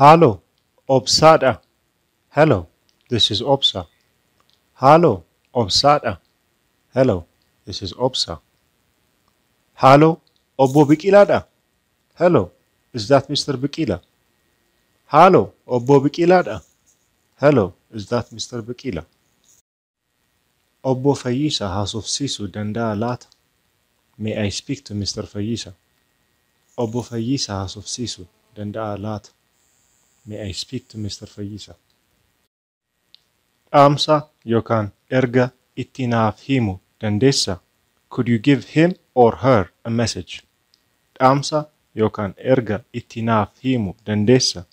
Haaloo, Obsaa dha. Hello, this is Obsa. Haaloo, Obsaa dha. Hello, this is Obsa. Haaloo, Obbo Biqilaa dha. Hello, is that Mr. Biqila? Haaloo, Obbo Biqilaa dha. Hello, is that Mr. Biqila? Obbo Fayyisaa haasofsiisuu danda'aa laata? May I speak to Mister Fayyisaa? Obbo Fayyisaa haasofsiisuu danda'aa laata? May I speak to Mister Fayyisaa? Dhaamsa yokaan erga itti naaf himu dandeessa? Could you give him or her a message? Dhaamsa yokaan erga itti naaf himu dandeessa?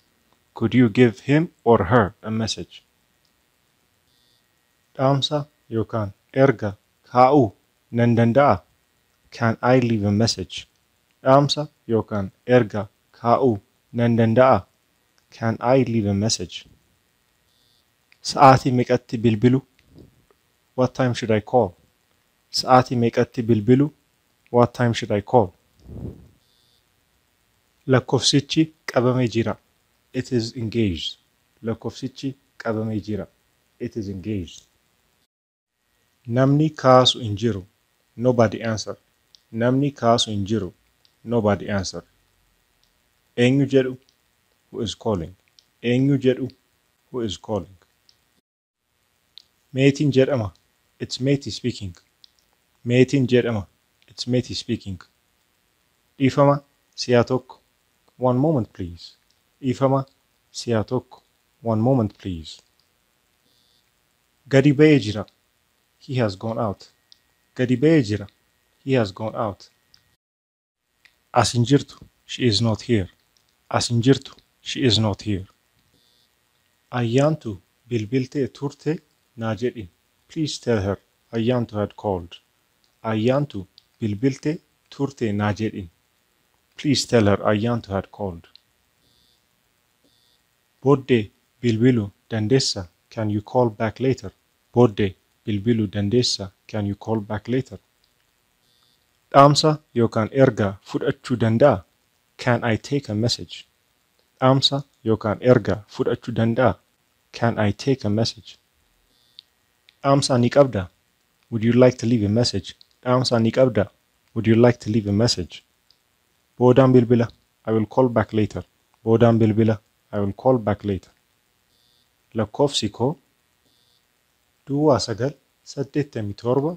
Could you give him or her a message? Dhaamsa yookaan erga kaa'uu nan danda'a? Can I leave a message? Dhaamsa yookaan erga kaa'uu nan danda'a? Can I leave a message? Sa'aatii meeqatti bilbilu? What time should I call? Sa'aatii meeqatti bilbilu? What time should I call? Lakkofsichi qabame jira. It is engaged. Lakkofsichi qabamee jira. It is engaged. Namni kaasu hin jiru. Nobody answered. Namni kaasu hin jiru. Nobody answered. Eenyu jedhu? Who is calling? Eenyu jedhu? Who is calling? Meetiin jedhama. It's Meti speaking. Meetiin jedhama. It's Meti speaking. Dhiifama si'a tokko. One moment please. Dhiifama si'a tokko. One moment please. Gadi ba'ee jira. He has gone out. Gadi ba'ee jira. He has gone out. As hin jirtu. She is not here. As hin jirtu. She is not here. Ayyaantu bilbiltee turte naa jedhi. Please tell her Ayyaantu had called. Ayyaantu bilbilte turte naa jedhi. Please tell her Ayyaantu had called. Booddee bilbilu dandeessa Can you call back later? Booddee bilbilu dandeessa Can you call back later? Dhaamsa yookaan erga fudhachu danda'a? Can I take a message? Dhaamsa yookaan erga fudhachu danda'a? Can I take a message? Dhaamsa ni qabda? Would you like to leave a message? Dhaamsa ni qabda? Would you like to leave a message? Boodaan bilbila. I will call back later. Boodaan bilbila. I will call back later. Lakkoofsi koo duwwaa sagal saddeettamii torba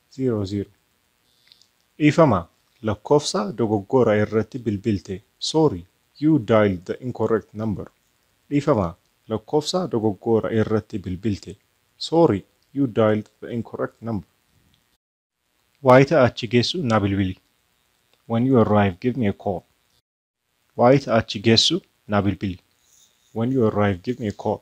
0 0. Dhiifama, lakkoofsa dogoggora irratti bilbilte Sorry, you dialed the incorrect number Dhiifama, lakkoofsa dogoggora irratti bilbilte Sorry, you dialed the incorrect number Wayita achi geessu na bilbili When you arrive, give me a call Wayita achi geessu na bilbili When you arrive, give me a call.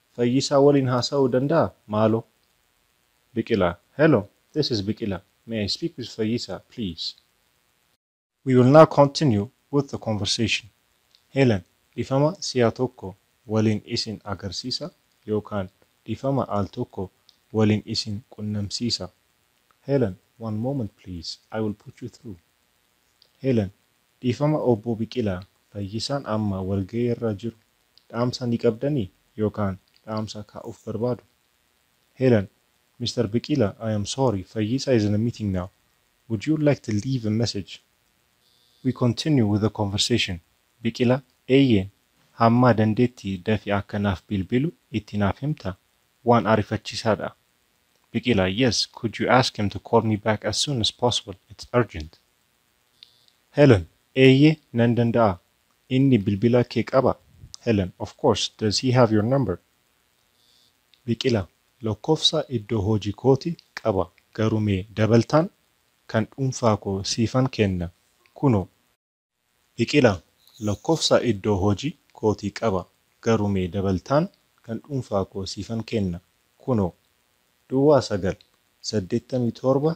Fayyisaa waliin haasa'uu danda'aa? Maaloo? Biqilaa, Hello, this is Biqilaa, may I speak with Fayyisaa, please? We will now continue with the conversation. Helen, Dhifama si'a tokko waliin isin agarsiisa yookaan dhifama al tokko waliin isin qunnamsiisa. Helen, One moment please, I will put you through. Helen, Dhiifama Obbo Biqilaa, Fayyisaan amma walgahii irra jiru. Dhaamsa ni qabdanii? Yookaan dhaamsa kaa'uuf barbaadu? Helen, Mr. Biqila, I am sorry, Fayyisa is in a meeting now. Would you like to leave a message? We continue with the conversation. Biqila, Eeyyeen, hamma dandeetti dafi akka naaf bilbilu itti naaf himta? Waan arifachiisaadha. Biqila, Yes, could you ask him to call me back as soon as possible, it's urgent. Helen, Eeyyee nan danda'a. Inni bilbila kee qaba? Helen, Of course, does he have your number? Biqila, Lokkofsa iddo hoji kooti qaba garu me dabaltaan kan dhunfaa koo siifan kenna kuno. Biqila, Lokkofsa iddo hoji kooti qaba garu me dabaltaan kan dhunfaa koo siifan kenna kuno. Duwwaa 9, 87,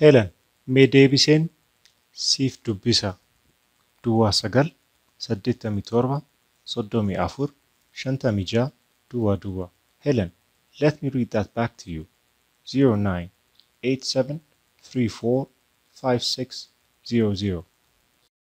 Helen mee deebiseen siif dubbisa duwwaa sagal saddeettamii torba soddomii afur shantamii ja'a duwwaa duwwaa Helen let me read that back to you zero nine eight seven three four five six zero zero.